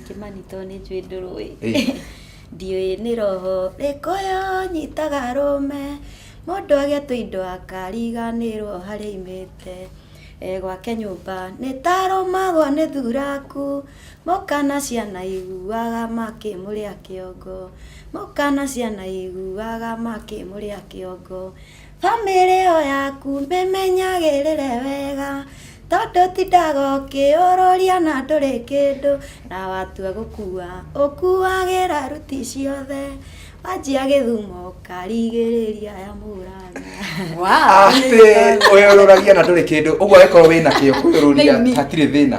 kĩmani to nĩ njũĩ ndũrũĩ ndiũĩ nĩ roho rĩkũyũ nyitaga rũme mũndũ agĩa tũindo akariganĩrwo harĩa imĩte e gwake nyũmba nĩ tarũmagwo nĩ thuraku mũkana ciana iguaga makĩmũrĩa kĩongo mũkana ciana iguaga makĩmũrĩa kĩongo Bamĩrĩ ĩyo yaku mĩmenyagĩrĩre wega, tondũ ũtindaga ũkĩyũrũria na ndũrĩ kĩndũ, na watua gũkua ũkuagĩra ruti ciothe, wanjia gĩthumo ũkarigĩrĩria ya Maulana. Atĩ ũyũrũragia na ndũrĩ kĩndũ, ũguo angĩkorwo wĩna kĩo kũyũrũria Thĩinĩ. hatirĩ thĩna.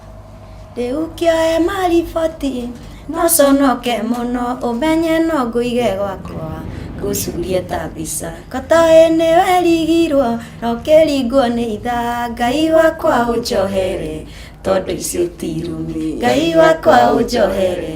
rĩu kĩoe mariboti no conoke mũno ũmenye no ngũige gwakwa ngũcurie ta mbica kotoĩ nĩwe rigirwo na ũkĩringwo nĩ itha ngai wakwa ũnjohere tondũ icio ti irumi ngai wakwa ũnjohere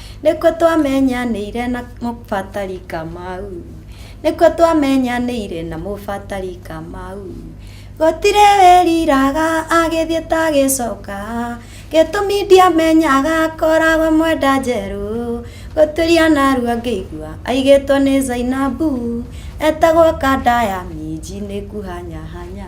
Nĩkuo twamenyanĩire na mũbatari Kamau. Nĩkuo twamenyanĩire na mũbatari Kamau. Gũtirĩ wĩriraga agĩthiĩ ta agĩcoka. Gĩtũmi ndiamenyaga akoragwo mwenda njerũ. Gũtuĩria narua ngĩigua aigĩtwo nĩ Zainabu. Etagwo Kanda ya minji nĩ kuhanyahanya.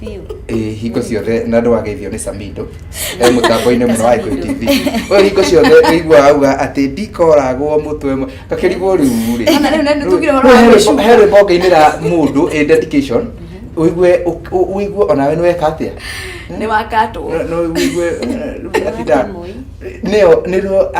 biũ Eh, hingo ciothe na ndwageithio nĩ samido e mũtambo-inĩ mũno wa Ikuyu tv we hingo ciothe ũiguaga auga atĩ ndikoragwo mũtwe mwe- gakĩrigwo rĩu rĩ Ona rĩu nĩ- tugire ũhoro wa Rĩu he gũcuka. rwĩmbo- he rwĩmbo ngainĩra mũndũ ĩ dedication ũigue ũ- ũ- ũigue onawe nĩweka atĩa nĩ wakatwo No- no ũigue eh, rĩu abitha. Nĩo- nĩruo